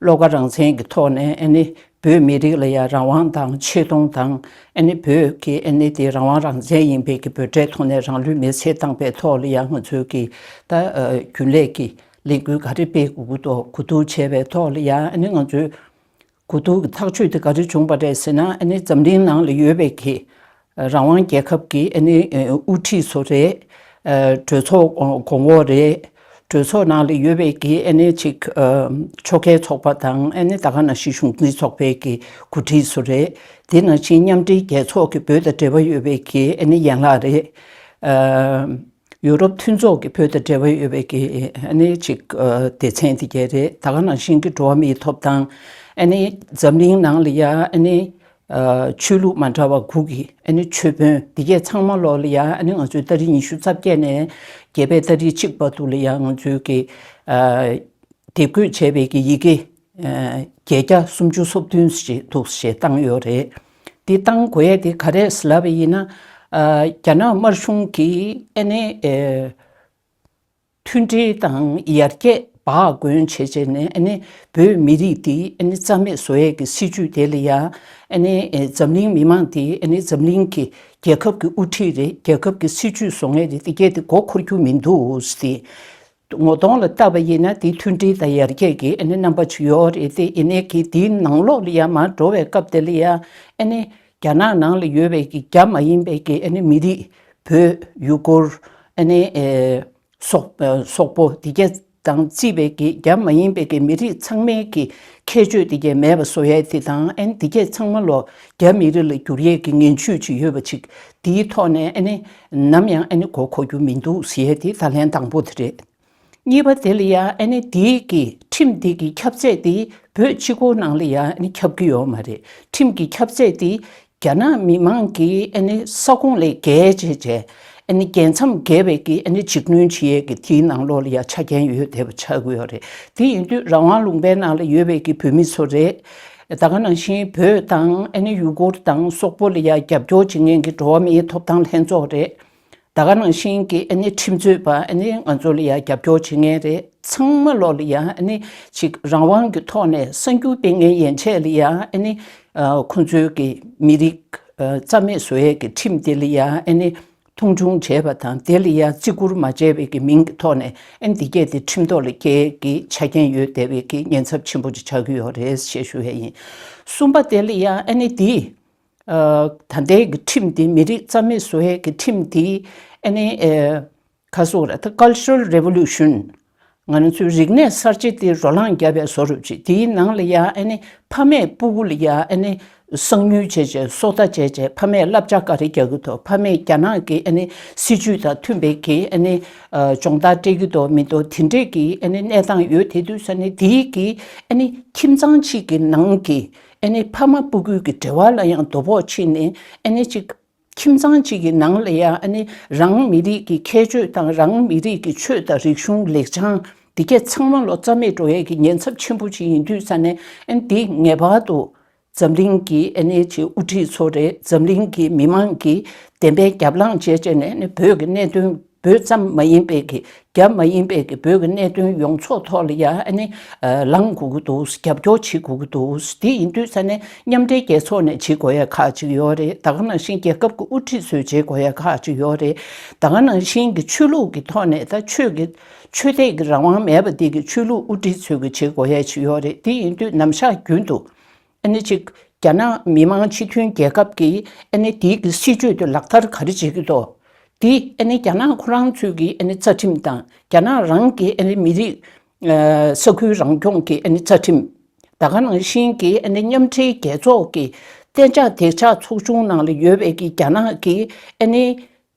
བློ་ཁ་རང་བཙན་གྱི་ཐོག་ནས་བོད་མི་རིགས་ལ་ཡང་རང་དབང་དང་ཆེ་མཐོང་དང། བོད་ཀྱི་དེ་རང་དབང་རང་བཙན་ཡིན་པའི་ཀྱི་བོད་དྲའི་ཐོག་ནས་རང་ལུས་མེར་བསྲེགས་བཏང་པའི་ཐོག་ལ་ཡང་ང་ཚོའི་ཀྱི་ད་རྒྱུན་ལས་ཀྱི་ལས་འགུལ་ག་རེ་སྤེལ་དགོས་ཀྱི་འདུག་གོ་བསྡུར་བྱས་པའི་ཐོག་ལ་ཡང་ང་ཚོའི་གོ་བསྡུར་གྱི་ཐག་གཅོད་དེ་ག་རེ་བྱུང་བ་རེད་ཟེར་ན་འཛམ་གླིང་ནང་ལ་ཡོད་པའི་ཀྱི་རང་དབང་རྒྱལ་ཁབ་ཀྱི་དབུ་ཁྲིད་ཚོ་རེད། གྲོས་ཚོགས་གོང་འོག་རེད། གྲོས་ཚོགས་ནང་ལ་ཡོད་པའི་ཀྱི་གཅིག་ཆོལ་ཁའི་ཚོགས་པ་དང་ད་ག་ནང་བཞིན་གཞུང་འཛིན་ཚོགས་པའི་ཀྱི་འགོ་ཁྲིད་ཚོ་རེད། དེ་ནང་བཞིན་མཉམ་འབྲེལ་རྒྱལ་ཚོགས་ཀྱི་བོད་དང་འབྲེལ་བ་ཡོད་པའི་ཀྱི་ཡན་ལག་རེད། ཡུ་རོབ་མཐུན་ཚོགས་ཀྱི་བོད་དང་འབྲེལ་བ་ཡོད་པའི་གི་ནི་ཅིག་སྡེ་ཚན་དེ་བརྒྱད་རེད་ད་ག་ནང་བཞིན་གི་འགྲོ་བ་མིའི་ཐོབ་ཐང་ཨ་ནི་འཛམ་གླིང་ནང་ལ་ཡ་ཨ་ནི་ཆོས་ལུགས་མ་འདྲ་བ་དགུ་གི་ཨ་ནི་ཆོས་དཔོན་དེ་བརྒྱད་ཚང་མ་ལོག་ལ་ཡ་ཨ་ནི་ང་ཚོའི་ཏཱ་རི་ཉི་ཤུ་རྩ་བརྒྱད་ནས་བརྒྱད་པའི་ཏཱ་རི་གཅིག་པ་འདུག་ལ་ཡ་ང་ཚོའི་གི་དེ་བཀོད་བྱས་པའི་གི་ཡི་གེ། བརྒྱད་བརྒྱ་སུམ་ཅུ་སོ་བདུན་ཞིག་འདུག་ཞེས་བཏང་ཡོད་རེད། འདི་བཏང་དགོས་ཡས་དེ་ག་རེད་ཟེར་བ་ཡིན་ན། རྒྱ་ནག་དམར་གཞུང་གིས་ཨ་ནེ། མཐུན་སྒྲིལ་དང་ཡར་རྒྱས་འབའ་གོན་བྱེད་བྱེད་ནས་ཨ་ནེ་བོད་མི་རིགས་འདི་ཨ་ནེ་རྩ་མེད་བཟོ་ཡས་ཀྱི་སྲིད་ཇུས་དེ་ལ་ཡ་ཨ་ནེ་འཛམ་གླིང་མི་མང་འདི་ཨ་ནེ་འཛམ་གླིང་གི་རྒྱལ་ཁབ་ཀྱི་དབུ་ཁྲིད་རེད་རྒྱལ་ཁབ་ཀྱི་སྲིད་ཇུས་བཟོ་ངེས་རེད་འདི་གས་དེ་མགོ་འཁོར་རྒྱུ་མི་འདུག་ཟེ། ངོ་གདོང་ལ་བལྟ་བ་ཡིན་ན་འདི་མཐུན་སྒྲིལ་དང་ཡར་རྒྱས་ཀྱི་རྣམ་པ་ཆུ་ཡོར་རེད་དེ་ཡིན་ནའི་གི་འདིའི་ནང་ལོགས་ལ་ཡར་མར་འགྲོ་བའི་སྐབས་དེ་ལ་ཡང་རྒྱ་ནག་ནང་ལ་ཡོད་པའི་གི་རྒྱ་མ་ཡིན་པའི་གི་མི་རིགས་བོད་ཡུ་གུར་སོག་པོ་དེ་ག་དང་རྩིས་པའི་གི་རྒྱ་མ་ཡིན་པའི་གི་མི་རིགས་ཚང་མའི་གི་ཁྱད་ཆོས་དེ་ག་མེད་པ་བཟོ་ཡས་དེ་དང་དེ་ག་ཚང་མ་ལོགས་རྒྱ་མི་རིགས་ལ་འགྱུར་ཡས་གི་ངན་བྱུས་ཅིག་ཡོད་པ་ཅིག་འདིའི་ཐོག་ནས་ནམ་ཡང་ཨ་ནི་གོ་གོ་རྒྱུ་མི་འདུག་ཟེར་དེ་ད་ལན་དང་པོ་དེ་རེད། གཉིས་པ་དེ་ལ་ཡང་ཨ་ནི་འདི་གི་ཁྲིམས་འདི་གི་ཁྱབ་ཚད་དེ་བོད་སྤྱི་ཁོག་ནང་ལ་ཡང་ཨ་ནི་ཁྱབ་གི་ཡོག་མ་རེད་ཁྲིམས་གི་ཁྱབ་ཚད་དེ་རྒྱ་ནག་མི་མང་གི་ཨ་ནི་ས་ཁོངས་ལས་བརྒལ་བྱས་བྱས་ཨ་ནི་རྒྱལ་མཚམས་བརྒལ་བའི་གི་ཨ་ནི་འཇིགས་གནོན་བྱེད་ཡས་གི་དེའི་ནང་ལོག་ལ་ཡང་ཆ་རྐྱེན་ཡོད་དེ་བ་ཆགས་གི་ཡོག་རེད་དེ་ཡིན་དུས་རང་དབང་ལུང་པའི་ནང་ལ་ཡོད་བའི་གི་བོད་མི་ཚོ་རེད་ད་སྔ་ནང་བཞིན་བོད་དང་ཨེ་ནི་ཡུ་གུར་དང་སོག་པོ་ལ་ཡང་རྒྱབ་སྐྱོར་བྱེད་མཁན་གྱི་འགྲོ་བ་མིའི་ཐོབ་ཐང་ལྷན་ཚོགས་རེད། ད་སྔ་ནང་བཞིན་གྱི་ཨེ་ནི་ཁྲིམས་རྩོད་པ་ཨེ་ནི་ང་ཚོ་ལ་ཡང་རྒྱབ་སྐྱོར་བྱེད་མཁན་རེད་ཚང་མ་ལོག་ལ་ཡང་ཨེ་ནི་ཅིག་རང་དབང་གི་ཐོག་ནས་གསར་འགྱུར་སྤེལ་མཁན་ཡན་ཆད་ལ་ཡང་ཨེ་ནི་ཁོང་ཚོའི་གི་མི་རིགས་རྩ་མེད་བཟོ་ཡས་ཀྱི་ཁྲིམས་དེ་ལ་ཡང་ཨེ་ནི་མཐོང་ཆུང་བྱས་པ་དང་དེ་ལ་ཡང་བརྩི་བཀུར་མ་བྱས་བའི་ཀྱི་མིང་གི་ཐོག་ནས་ཨེ་འདི་སྐད་དེ་ཁྲིམས་ཐོག་ལ་སྐྱེལ་གྱི་ཆ་རྐྱེན་ཡོད་བསྡད་བའི་ཀྱི་ཉེན་ཚབས་ཆེན་པོ་ཅིག་ཆགས་ཀྱི་ཡོད་རེད་ཞེས་ཞུ་བས་ཡིན། གསུམ་པ་དེ་ལ་ཡང་ཨེ་ནི་འདི་ད་ལྟའི་ཀྱི་ཁྲིམས་འདི་མི་རིགས་རྩ་མེད་བཟོ་བའི་ཀྱི་ཁྲིམས་འདི་ཨེ་ནི་ཁ་སོ་ར་ཐི Cultural Revolution། ང་ཚོའི་རིག་གནས་གསར་བརྗེ་འདི་རོ་ལངས་བརྒྱབ་པའི་བཟོ་རུ་བཅུག་དེའི་ནང་ལ་ཡང་ཨ་ནི་ཕ་མས་སྤུ་གུ་ལ་ཡང་ཨ་ནི་གསང་ཉུལ་བྱས་བྱས་སོ་ལྟ་བྱས་བྱས་ཕ་མས་བསླབ་བྱ་ག་རེ་རྒྱག་གི་འདུག་ཕ་མས་རྒྱ་ནག་གི་ཨ་ནི་སྲིད་ཇུས་དང་མཐུན་པའི་གི་ཨ་ནི་སྦྱོང་བརྡར་སྤྲད་ཀྱི་འདུག་མི་འདུག་དེ་འདྲས་ཀྱི་ཨ་ནི་གནས་སྟངས་ཡོད་དེ་དུས་ས་ནི་དེའི་གི་ཨ་ནི་ཁྱིམ་ཚང་གཅིག་གི་ནང་གི་ཨ་ནི་ཕ་མ་སྤུ་གུའི་གི་འབྲེལ་བ་ལ་ཡང་དོ་ཕོག་ཕྱིན་ནས་ཨ་ནི་གཅིག་ཁྱིམ་ཚང་གཅིག་གི་ནང་ལ་ཡང་ནི་རང་མི་རིགས་ཀྱི་ཁྱད་ཆོས་དང་རང་མི་རིགས་ཀྱི་ཆོས་དང་རིག་གཞུང་ལེགས་བྱང་འདི་ག་ཚང་མ་ལོ་ཙཱ་མེད་འགྲོ་ཡས་ཀྱི་ཉེན་ཚབས་ཆེན་པོ་ཅིག་ཡིན་དུས་ས་གནས་འདི་ངེས་པར་དུ་འཛམ་གླིང་གི་དབུ་ཁྲིད་ཚོ་རེད་འཛམ་གླིང་གི་མི་མང་གིས་བདེན་པའི་རྒྱབ་ལངས་བྱེད་ཅེས་ནས་བོད་ཀྱི་གནད་དོན། བོད་ཙམ་མ་ཡིན་པའི་གི་རྒྱ་མ་ཡིན་པའི་གི་བོད་ཀྱི་གནད་དོན་ཡོངས་རྫོགས་ཐོག་ལ་ཡང་ཨ་ནི་ལངས་དགོས་ཀྱི་འདུག་རྒྱབ་སྐྱོར་བྱེད་དགོས་ཀྱི་འདུག་དེ་ཡིན་དུས་ས་ནི་མཉམ་འབྲེལ་རྒྱལ་ཚོགས་ནས་བྱེད་དགོས་ཡ་ཁག་ཅིག་ཡོད་རེད་ད་ག་ནང་བཞིན་རྒྱལ་ཁབ་ཀྱི་དབུ་ཁྲིད་ཚོས་བྱེད་དགོས་ཡ་ཁག་ཅིག་ཡོད་རེད་ད་ག་ནང་བཞིན་གི་ཆོས་ལུགས་ཀྱི་ཐོག་ནས་ད་ཆོས་ཀྱི་ཆོས་དད་ཀྱི་རང་དབང་མེད་པ་འདི་གི་ཆོས་ལུགས་དབུ་ཁྲིད་ཚོས་གི་བྱེད་དགོས་ཡ་ཅིག་ཡོད་རེད་དེ་ཡིན་དུས་ནམ་ཞག་རྒྱུན་དུ་ཨ་ནེ་གཅིག་རྒྱ་ནག་མི་དམངས་སྤྱི་མཐུན་རྒྱལ་ཁབ་ཀྱིས་ཨ་ནེ་དེའི་གི་སྲིད་ཇུས་དེ་ལག་བསྟར་ག་རེ་བྱེད་ཀྱི་འདུག་དེ་ཨ་ནེ་རྒྱ་ནག་ཁོ་རང་ཚོས་ཀྱི་ཨ་ནེ་རྩ་ཁྲིམས་དང་རྒྱ་ནག་རང་གི་ཨ་ནེ་མི་རིགས་ས་ཁུལ་རང་སྐྱོང་གི་ཨ་ནེ་རྩ་ཁྲིམས་ད་ག་ནང་བཞིན་གྱི་ཨ་ནེ་མཉམ་འབྲེལ་རྒྱལ་ཚོགས་ཀྱི་གཏན་འཇགས་བདེ་འཇགས་ཚོགས་ཆུང་ནང་ལ་ཡོད་པའི་གི་རྒྱ་ནག་གི་ཨ་ནེ་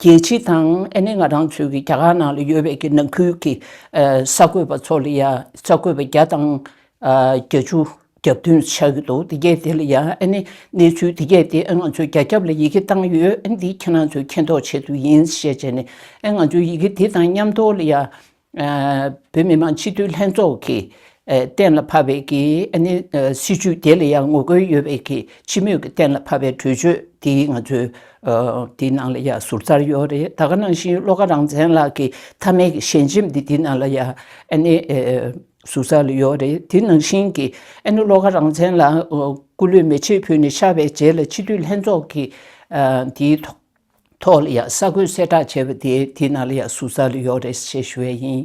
རྒྱལ་སྤྱི་དང་ཨ་ནེ་ང་རང་ཚོའི་རྒྱ་གར་ནང་ལ་ཡོད་པའི་གི་ནང་ཁུལ་གི་གསར་འགོད་པ་ཚོ་ལ་ཡང་གསར་འགོད་པ་བརྒྱ་དང་བརྒྱ་ཅུ་རྒྱབ་མདུན་ཆགས་ཀྱི་འདུག་དེ་གས་དེ་ལ་ཡང་ཨ་ནེ་གནས་ཚུལ་དེ་གས་དེ་ཨ་ང་ཚོའི་རྒྱ་ཁྱབ་ལ་ཡི་གེ་བཏང་ཡོད་ཨ་འདི་ཁྱེད་རང་ཚོས་མཁྱེན་རྟོགས་བྱེད་དུ་ཡིན་ཞེས་བྱས་ནས་ཨ་ང་ཚོའི་ཡི་གེ་དེ་དང་མཉམ་ཐོག་ལ་ཡང་བོད་མི་མང་སྤྱི་འཐུས་ལྷན་ཚོགས་ཀྱིས་གཏན་ལ་ཕབ་པའི་གི་སྲིད་བྱུས་དེ་ལ་ཡང་ངོ་རྒོལ་ཡོད་པའི་གི་སྤྱི་མོས་ཀྱི་གཏན་ལ་ཕབ་པའི་གྲོས་ཆོད་དེ་ང་ཚོའི་དེའི་ནང་ལ་ཡང་ཟུར་ཟར་ཡོད་རེད་ད་ག་ནང་བཞིན་བློ་དགའ་རང་བཙན་ལགས་ཀྱི་མཐའ་མའི་གི་ཞལ་འཆེམས་དེ་དེའི་ནང་ལ་ཡང་ཟུར་ཟར་ལ་ཡོད་རེད་དེ་ནང་བཞིན་གི་བློ་དགའ་རང་བཙན་ལགས་སྐུ་ལུས་མེ་ལྕེ་ཕུལ་ནས་ཤར་བའི་རྗེས་ལ་སྤྱི་འཐུས་ལྷན་ཚོགས་ཀྱིས་དེའི་ཐོག། ཐོག་ལ་ཡང་ས་ཁོན་གསལ་བསྒྲགས་བྱས་པ་དེའི་དེའི་ནང་ལ་ཡང་ཟུར་ཟ་ལ་ཡོག་རེད་ཟེར་ཞུ་བས་ཡིན།